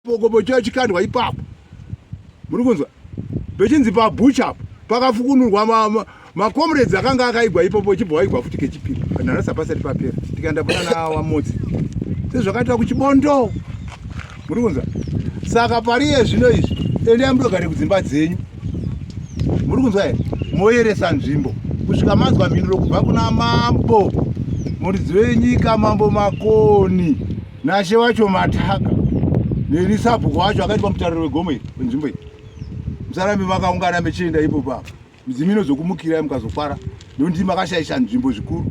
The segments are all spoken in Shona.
Bokobo chiya chikandwa ipapo. Muri kunzwa? Pechinzi pa butcher apo pakafukunurwa ma, ma, ma comrades akanga akaigwa ipapo chibva waigwa futi kechipiri. Kana rasa pasati papera. Tikaenda kuna na wa motsi. Sezvakaitwa kuchibondo. Muri kunzwa? Saka pariye zvino izvi ende amudogare kudzimba dzenyu. Muri kunzwa here? Moyeresa nzvimbo. Kusvika manzwa mhinduro kubva kuna mambo. Muridziwe nyika mambo makoni. Nashe wacho mataka nelisabhuku wacho akaitwa mutariro wegomo iri wenzvimbo iyi musarambi makaungana mechienda ipo papa midzimu inozokumukirai mukazofara nokuti makashaisha nzvimbo zvikuru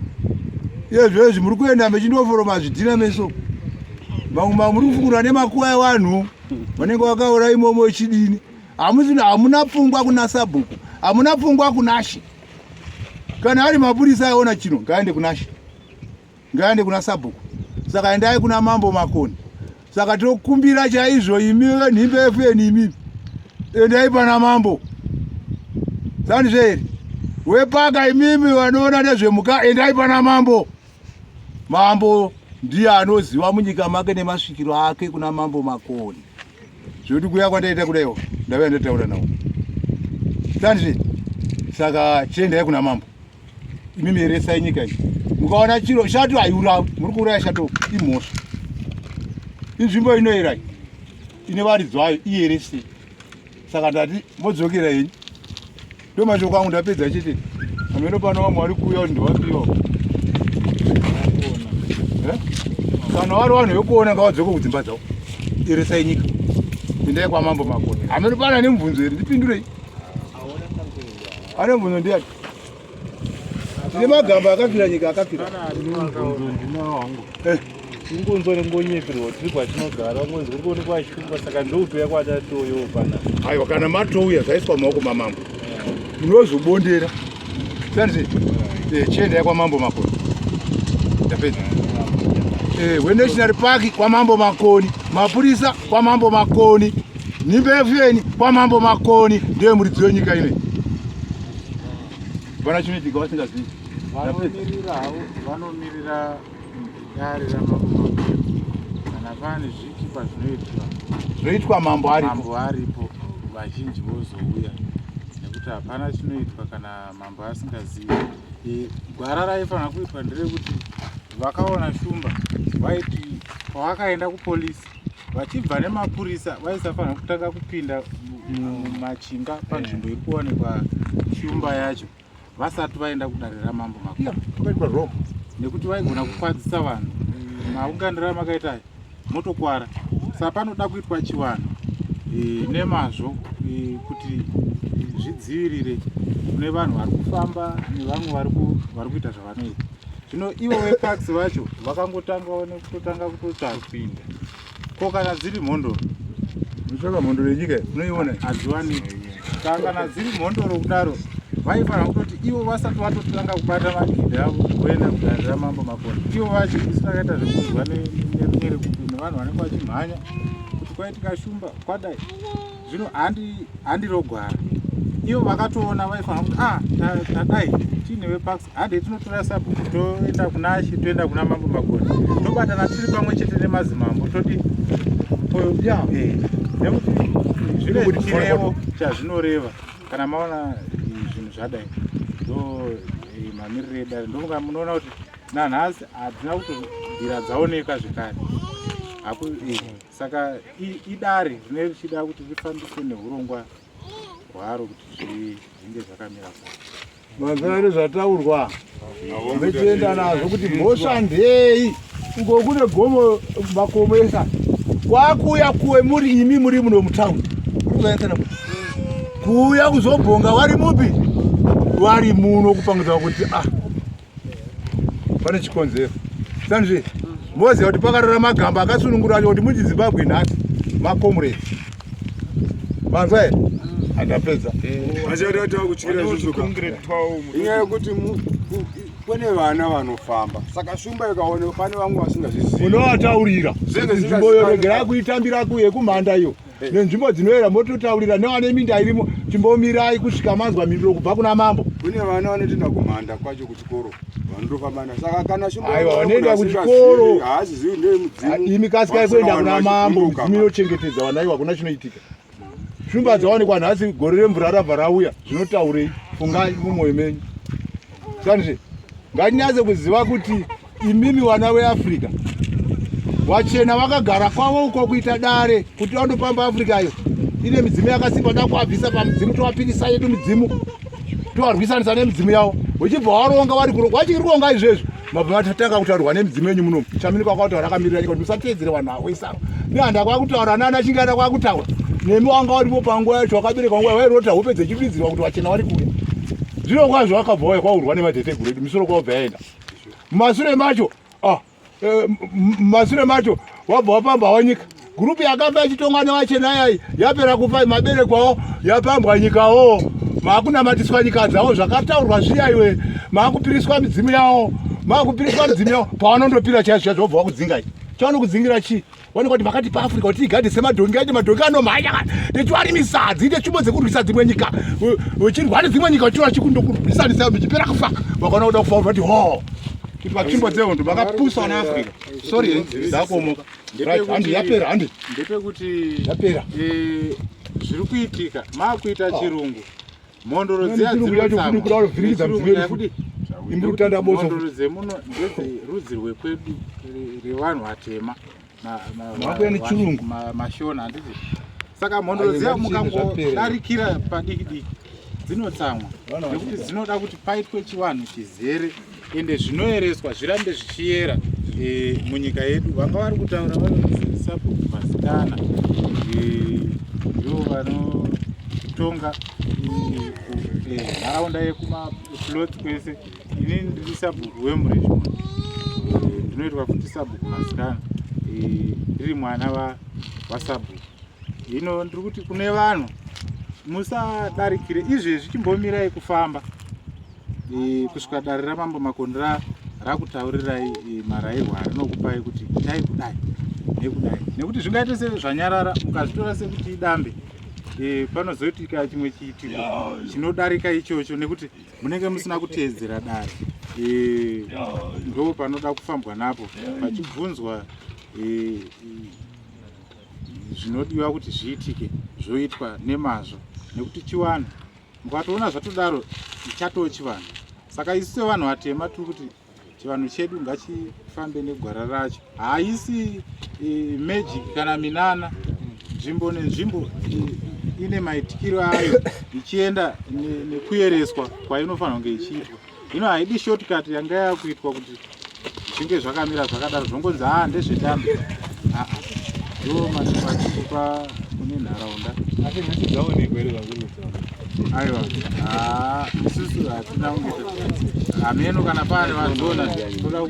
iye zvezvi muri kuenda mechindoforoma zvidhina meso mamwe mamwe muri kufungura nemakuva evanhu vanenge vakaura imomo ichidini hamuna pfungwa kuna sabhuku hamuna pfungwa kunashe kana ari mapurisa aona chino ngaende kunashe ngaende kuna sabhuku saka endai kuna mambo makoni saka tokumbira chaizvo imi venhimbe fn imi endai pana mambo zandizveeri wepaka imimi vanoona nezvemuka endai pana mambo mambo ndiye anoziva munyika make nemasvikiro ake kuna mambo makoni zvekuti kuya kwandaita kudaiwo ndave ndataura nawo zandizveeri saka chiendai kuna mambo imi mieresa inyika iyi mukaona chiro shato haiurawi muri kuuraya shato imhosva inzvimbo inoera ine varidzi vayo ierese saka ndati modzokera henyu ndo mashoko angu ndapedza chete ameno pano vamwe vari kuuya kuti ndovapiwa eh? kana vari vanhu vekuona ngavadzoke kudzimba dzavo eresai nyika endai kwamambo makona ameno pano ane mubvunzo here ndipindurei ane mubvunzo ndiyati tine magamba akafira nyika akafira ingonzwa eh. nengonyeperwa tiri kwatinogara ngonzi kuri kuonekwa ashungwa saka ndoutoya kwatatoyo pana aiwa kana matouya zvaiswa maoko mamambo munozobondera sanzi eh, chienda yakwamambo makoni ndapedza eh, wenational park kwamambo makoni mapurisa kwamambo makoni Nhimbe yefeni kwamambo makoni ndiye muridzi wenyika ine. Vana chinoitika vasingazivi. Vanomirira havo vanomirira dare ramambo kana pane zvikipa zvinoitwa zvoitwa mambo aripo mambo aripo vazhinji vozouya nekuti hapana chinoitwa kana mambo asingazivi gwara raifanira kuitwa nderekuti vakaona shumba vaiti pavakaenda kupolisi vachibva nemapurisa vaisafanira kutanga kupinda mumachinga panzvimbo iri kuwanikwa shumba yacho vasati vaenda kudare ramambo makuru nekuti vaigona kukwadzisa vanhu maunganira makaita ayo motokwara saka panoda kuitwa chivanhu e, nemazvo e, kuti zvidzivirire kune vanhu vari kufamba nevamwe vari kuita zvavanoita zvino ivo vepax vacho vakangotangawo nekutotanga kutotsvapinda ko kana dziri mhondoro unotsvaka mhondoro yenyika unoiona hadziwani ka kana dziri mhondoro kudaro vaifanira kutoti ivo vasati vatotanga kubata magidi avo voenda kudare ramambo makoni ivo vacho isu takaita zvekunzwa nerunyere kuti nevanhu vanenge vachimhanya kuti kwaitika shumba kwadai zvino handirogwara ivo vakatoona vaifanira kuti a ah, tadai tiine vepax hande tinotora sabhuku toenda kuna shi toenda kuna mambo magoni tobatana tiri pamwe chete nemazimambo toti ya eh, nekuti zvine chirevo chazvinoreva kana maona eh, zvinhu zvadai ndo eh, mamiriro edare ndomuka munoona kuti nanhasi hatina kuti nzira dzaoneka zvekare saka idare rine richida kuti rifambiswe neurongwa hwaro kuti zvinge zvakamira paa Mazvare zvataurwa vetienda nazvo kuti mhosva ndei uko kune gomo makomo esa kwakuuya kuwe muri imi muri muno mutown kuzoyakana kuuya kuzobhonga wari mupi wari muno kupangidza kuti ah pane chikonzero sanzve moziva kuti pakarara magamba akasunungura acho kuti muchizimbabwe nhasi makomuredi Manzwa here? Andapedza. Vachada tava kutyira isusu ka. Inyaya yekuti mu- ku- kune vana vanofamba saka shumba ikaonekwa pane vamwe vasingazvizivi unovataurira Zvinenge kuti nzvimbo iyo zvisingazikanwi. regerai kuitambira kuye kumhanda iyo nenzvimbo dzinoera mototaurira nevane minda irimo chimbomirai kusvika manzwa mhinduro kubva kuna mambo kune vana vanotoenda kumhanda kwacho kuchikoro imi kasikai kuenda kuna mambo mudzimu inochengetedza vana ivo hakuna chinoitika shumba dzawanikwa nhasi gore remvura rabva rauya zvinotaurei fungai mumwoyo menyu sanizve ngatinyatse kuziva kuti imimi vana veafrica vachena vakagara kwavo uko kuita dare kuti vandopamba africa iyo ine midzimu yakasimba dakuabvisa pamudzimu towapirisa yedu midzimu tovarwisanisa nemidzimu yavo uchibva waronga vari kuronga vachiri kuronga izvezvi mabva vatatanga kutaurwa nemidzimu yenyu munomu chamini kwakutaura akamirira nyika kuti musateedzere vanhu avo isava nehanda kwakutaura nana chingana kwakutaura nemi wanga varipo panguva yacho wakabereka nguva vairota hope dzechipidzirwa kuti vachena vari kuya zvino kwazvo vakabva vaya kwaurwa nemadeteguru edu misoro kwavo bvayaenda mumasure macho ah Eh, masure macho wabva wapamba wanyika gurupu yakabva yachitongwa nevachena yai yapera kufa mabere kwavo yapambwa nyikawo maakunamatiswa nyika dzavo zvakataurwa zviya iwe maakupiriswa midzimu yavo maakupiriswa midzimu yavo pavanondopira chaizvo chaizvo vobva vakudzinga i chavanokudzingira chii Wani kwati vakati pa Africa kuti igade semadhongi aite madhongi anomhanya kana techiwari misadzi ite tsvimbo dzekurwisa dzimwe nyika vechirwa nedzimwe nyika vachirwa chikundokurwisanisa michipera kufa vakaona kuda kufa vati ho kuti vatsvimbo dzehondo vakapusa vana Africa sorry eh, ndakuomoka handi yapera handi ndepekuti yapera eh, zviri kuitika maakuita ah. chirungu Mhondoro dziya dzinotaamhondoro dzemuno ndedzerudzi rwekwedu revanhu vatema mashona handiti saka mhondoro dziya mukangodarikira padiki diki dzinotsamwa nekuti dzinoda kuti paitwe chivanhu chizere ende zvinoyereswa zvirambe zvichiyera e, munyika yedu vanga vari kutaura vanozisabuku masikana eh, ndo e, vanotonga eh, nharaunda e, yekumaplots kwese ini ndiri sabuku wemurishmon ndinoitwa futi sabuku masikana ndiri e, mwana wasabuku hino ndiri kuti kune vanhu musadarikire izvezvi chimbomirai kufamba kusvika dare ramambo makoni rakutaurirai marairwo arinokupai kuti itai kudai nekudai nekuti zvingaite se zvanyarara mukazvitora sekuti idambe e, panozoitika chimwe chiitiko chinodarika ichocho nekuti munenge musina kuteedzera dare e, ndo panoda kufambwa napo pachibvunzwa e, zvinodiwa kuti zviitike zvoitwa nemazvo nekuti chiwanhu Mukatoona zvatodaro chatoo chivanhu. Saka isu sevanhu vatema tiri kuti chivanhu chedu ngachifambe negwara racho. Haisi e, magic kana minana nzvimbo nenzvimbo e, ine maitikiro ayo ichienda nekuyereswa kwainofanira kunge ichiitwa. zvino haidi shortcut yanga yakuitwa kuti zvinge zvakamira zvakadaro zvongonzi haa ndezvetambi aa ndo matipachipa kune nharaunda asi nhasi dzaonekwa here vakurudzaa aiwa haa isusu hatina kunge hameno kana pane vazona toda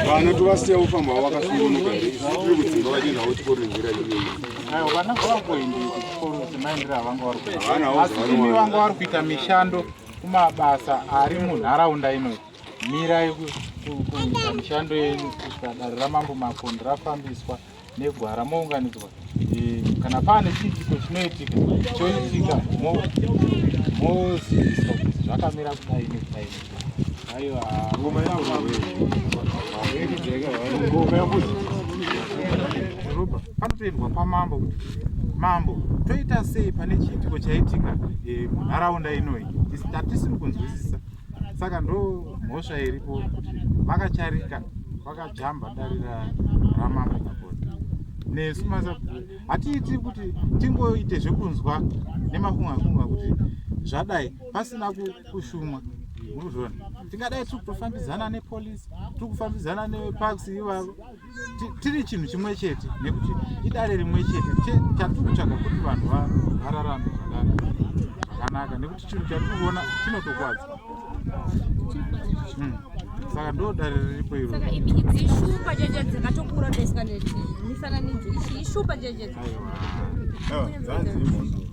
kuvana tovasiya kufamba wakasungunuka here isusu tiri kudzimba vachienda vochikoringira aiwa vana vavakuendii Asimi vanga vari kuita mishando kumabasa ari munharaunda ino mirai kuita mishando yenyu kusvika dare ramambo makondi rafambiswa negwara mounganidzwa e, kana paane chiitiko chinoitika choitika moziviswa kuti zvakamira kudai nekudai panotoendwa kwamambo kuti mambo toita sei pane chiitiko chaitika eh, munharaunda inoyi hatisiri kunzwisisa saka ndo mhosva iripo kuti vakacharika vakajamba darira ramambo pakona nesu masabhuru hatiiti kuti tingoite zvekunzwa nemakungakunga kuti zvadai pasina ku kushumwa murikuzviona tingadai tiri kutofambidzana nepolice tiri kufambidzana neparks ivavo tiri chinhu chimwe chete nekuti idare rimwe chete chatiri kutsvaga kuti vanhu vararame zvakanaka nekuti chinhu chatiri kuona chinotokwadza hmm. saka ndo dare riripo iro dzanzi imhondo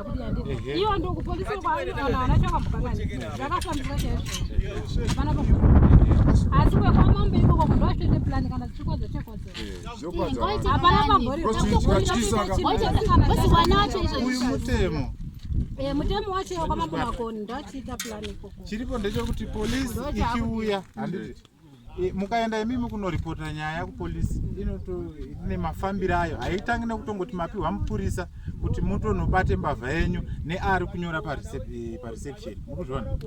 Eh, mutemo wacho kwamambo makoni ndochiita plan ikoko chiripo ndechekuti polisi ichiuya handiti Eh, mukaenda imimi kunoripota nyaya kupolisi ine mafambiro ayo haitangi nekutongoti mapiwa mupurisa kuti mutonobate mbavha yenyu neari kunyora eh, pareception mukuzviona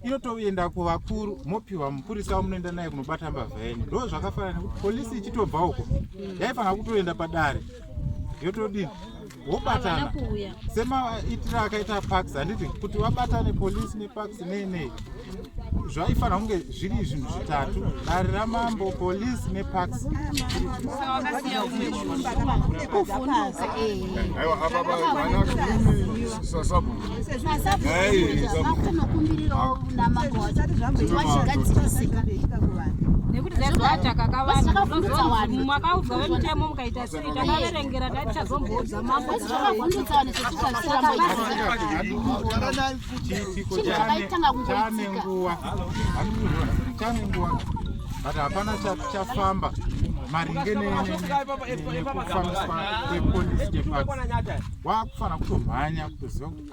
inotoenda kuvakuru mopiwa mupurisa wamunoenda naye kunobata mbavha yenyu ndo zvakafanana nekuti polisi ichitobva uko yaifanira kutoenda padare yotodini wobatana semaitira akaita pax handiti kuti wabatane polisi nepax nei nei zvaifanira kunge zviri zvinhu zvitatu dare ramambo polisi nepax nekuti zvaizvachakakavana makaudza vemutemo mukaita but hapana chafamba maringe nekufambiswa kwepolisi departs wakufanira kutomhanya kutoziva kuti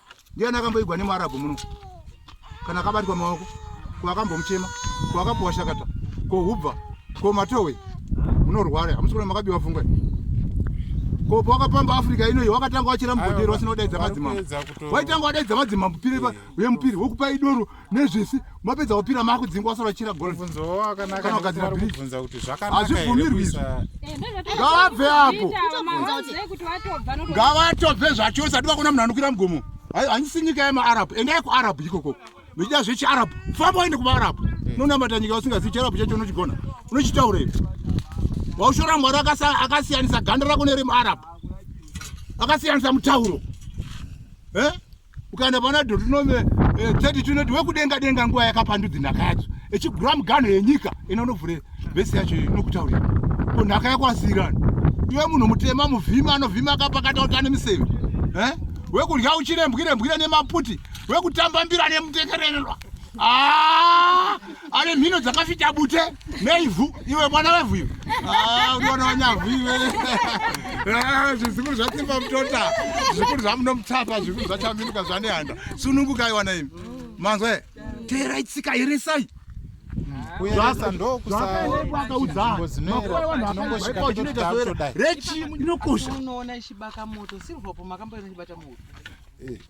ndiani akamboigwa nemuarabhu muno kana akabatwa maoko ko akambomuchema ko akapuwa shakata ko hubva ko matowe munorwara hamusi kuna makabiwa fungwe ko pawakapamba africa inoyi wakatanga wachira mugodero wasina kudaidza madzimambo waitanga wadaidza madzimambo piri uye mupiri wokupai doro nezvese mapedza kupira makudzinga wasara uchira golkana ugadzira brizhazvibvumirwi izvi eh, ngavabve apo ngavatobve zvacho usati vakona munhu anokwira mugomo handisi nyika yemaarabhu endai kuarabhu ikoko muchida zvechiarabhu famba waende kumaarabhu eh. unonamata nyika usingazivi chiarabhu chacho unochigona unochitaura ivi waushora mwari akasiyanisa ganda rako neremuarabhu akasiyanisa mutauro eh? ukaenda pana dotunove eh, 32 inoti wekudenga denga nguva yakapandudzi nhaka yacho echigura mugano yenyika ina unovhure vhesi yacho inokutaurira ko nhaka yako asiyirani iwe munhu mutema muvhima anovhima akapakata kuti ane miseve eh? wekudya uchirembwirembwira nemaputi wekutamba mbira nemutekerererwa ah! ane mhino dzakafita bute neivhu iwe mwana wevhu iwe ah, unoona wanyavhu iwe ah, zvikuru zvatsimba mutota zvikuru zvamunomutsapa zvikuru zvachaminuka zvanehanda sununguka iwana imi manzwe teera itsika here sai rechi inokosha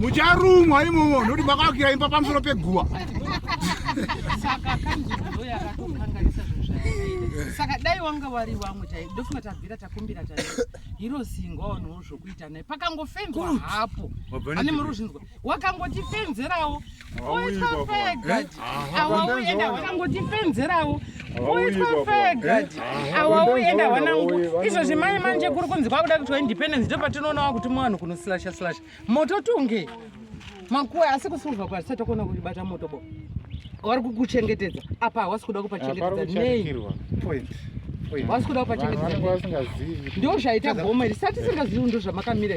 mucharumwa imomo nokuti makavakira imba pamusoro peguva saka dai wanga wari wamwe chai ndofunga tabvira takumbira ta hiro zingwa wanhuwo zvokuita naye pakangofenzwa hapo ane muri uzvinzwa wakangoti fenzerawo awauyendaakangotifenzerawo uifafaegadi awauenda wanangu izvozvi mai manje kuri kunzi kwakuda kuitwa independence ndo patinoonawa kuti mwanhu kunoslasha slasha moto tunge makuwa asi kusiuva kwa tisati takuona kuti bata moto bo wari kukuchengetedza apa hawasi kuda kupachengetedza nei wasi kuda kupachengetedza ndo zvaita goma iri sati singazivi ndo zvamakamira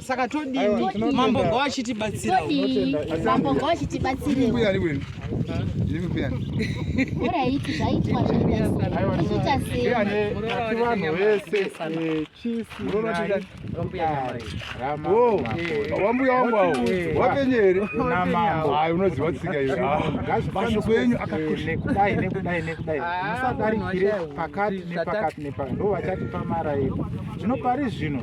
saka todii mambo ngo achitibatsira mambo ngo achitibatsire uya liwe liwe pia ora iti zvaitwa zvaita sei ane vanhu vese eh, chief murona tida wo wambuya wangu awo wapenyere na mambo hayi unoziwa tsika iyo vanhu kwenyu akakosha kudai nekudai nekudai ah, musadarikire pakati nepakati nepakati ndo vachatipa mara yedu zvino pari zvino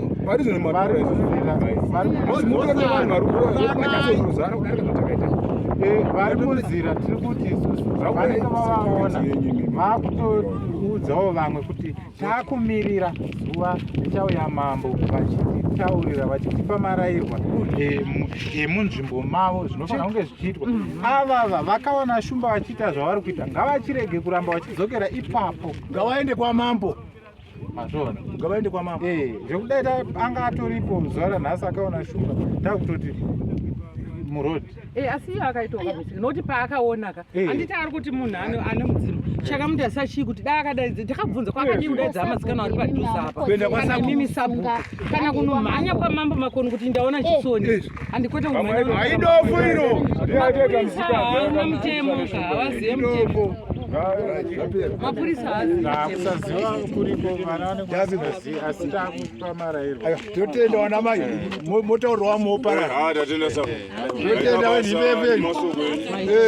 vari zvino matora izvo vari munzira tiri kuti isusu vanenge vavaona vakutoudzawo vamwe kuti takumirira zuva richauya mambo vachititaurira vachitipa marairwa emunzvimbo mavo zvinofanira kunge zvichiitwa avava vakaona shumba vachiita zvavari kuita ngavachirege kuramba vachidzokera ipapo ngavaende kwamambo ngavaende kwamama eh, zvekudai anga atoripo zuva ranhasi akaona shuga takutoti muroad eh, asi iyo akaitoka nokuti paakaonaka eh. handiti ari kuti munhu ane mudzimu chakamuti asi achii kuti dai akadaidza ndakabvunza kwakadii kudaidza amasikana ari padhuze apa kana mimi sabhuku kana kunomhanya kwamambo makoni kuti ndaona chisoni andikwete aidofu iro hauna mutemo havazive mutemo mapurisakusaziva kuriko vana vanekuazi asi takupa marairwa totenda vana mai motaurwa mopararotenda vanhiveveni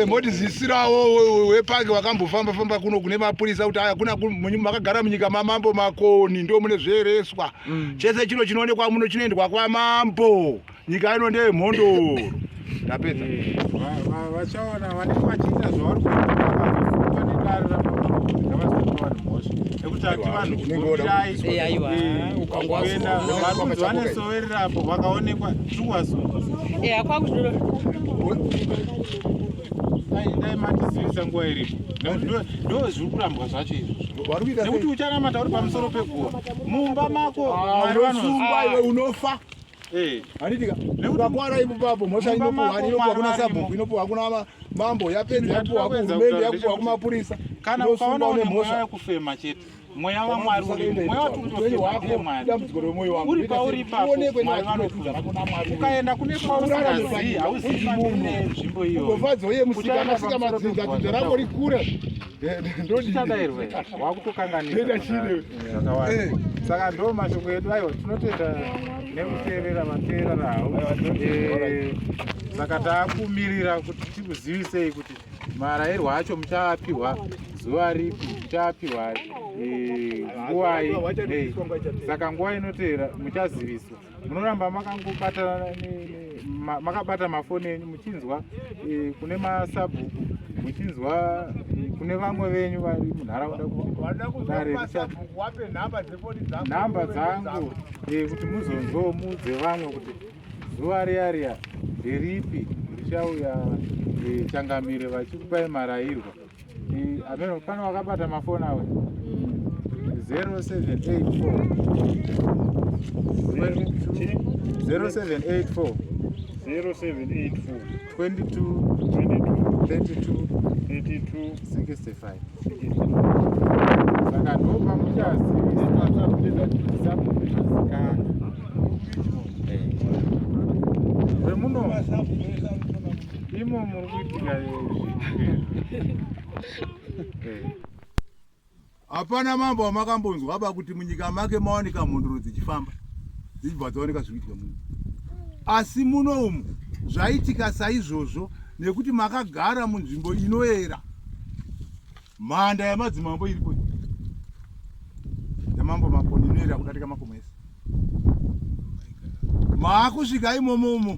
moti zisirawo wepange wakambofamba famba kuno kune mapurisa kuti aya kuna makagara munyika mamambo makoni ndo mune zveereswa mm. chese chino chinoonekwa muno chinoendwa kwamambo nyika ino ndeyemhondoro ndapedza eh, vachaona vanenge vachiita zvavari kuaa nedare ramaaavasaoa mhosva nekuti ati vanhu kuoiraiuenda varunzi vanesoverera apo vakaonekwa tuwasunga eh, dai matizivisa nguva iripo nekuti ndozviri kurambwa zvacho izvo nekuti uchanamata uri pamusoro peguva mumba mako ah, unosungwa iwe unofa eh. handitika ukakwara ipapo mhosva inopuhwa inopuhwa kuna sabhuku inopuhwa kuna mambo yapedza yapuhwa kuhurumende yapuhwa kumapurisa kana ukaona une mhosva yekufema chete mweya wamwari uri pauri ipaoukaenda kune kwausingazivi hauzivi nzvimbo iyoyo ndodidadairwe wakutokanganisa zvakawanda saka ndo mashoko edu aiwa tinotenda nekuteerera vateerera hau saka takumirira kuti tikuzivisei kuti marairwo acho muchaapiwa zuva ripi muchaapiwa nguwai saka nguva inoteera muchaziviswa munoramba makangobata makabata mafoni enyu muchinzwa e, kune masabhuku muchinzwa e, kune vamwe venyu vari munharaunda nhamba dzangu e, kuti muzonzwawo muudze vamwe kuti zuva riya riya ndiripi richauya changamire vachikupai marayirwa ameno pano wakabata mafoni awe 0784 saka ndopa muchazivisakuiasikana vemuno Imo muri kuitika Hapana mambo amakambonzwa apa kuti munyika make mawanika mhondoro dzichifamba dzichibva dzaoneka zvikuitika muno. Asi muno umu zvaitika saizvozvo nekuti makagara munzvimbo inoera. Mhanda yamadzimambo iripo yamambo makoni inoera kudarika makomo ese. Maakusvika imomo umo.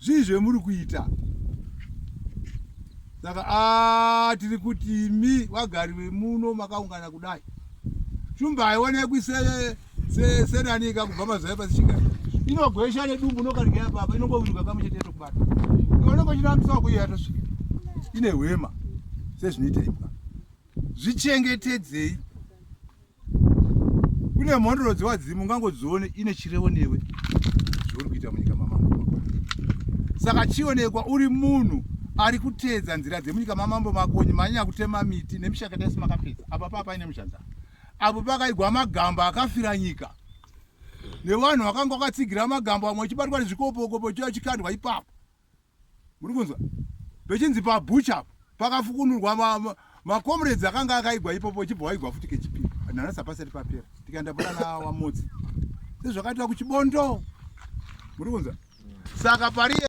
zvii zvemuri kuita saka ah, tiri kuti imi vagari vemuno makaungana kudai shumba haionekwi senanika kubva mazai pasi chigari inogwesha nedumbu unokarigaya papa inongoviruka kamwe chete tokubata iwe unongochirambisa wakuiya tosvika ine hwema sezvinoita imbwa zvichengetedzei kune mhondoro dzewadzimu ungangodzione ine chirevo newe zvauri kuita munyika mamambo saka chionekwa uri munhu ari kuteedza nzira dzemunyika mamambo makonyi manyanya kutema miti nemishakata yese makapedza apa paa paine muzhanza apo pakaigwa magamba akafira nyika nevanhu vakanga vakatsigira magamba vamwe vachibatwa nezvikopokopo chiya chikandwa ipapo muri kunzwa pechinzi pabucha pakafukunurwa macomrades akanga akaigwa ipopo ichibva waigwa futi kechipiri nhanhasi hapasati papera tikaenda bura nawamotsi sezvakaitwa kuchibondo muri kunzwa saka pariye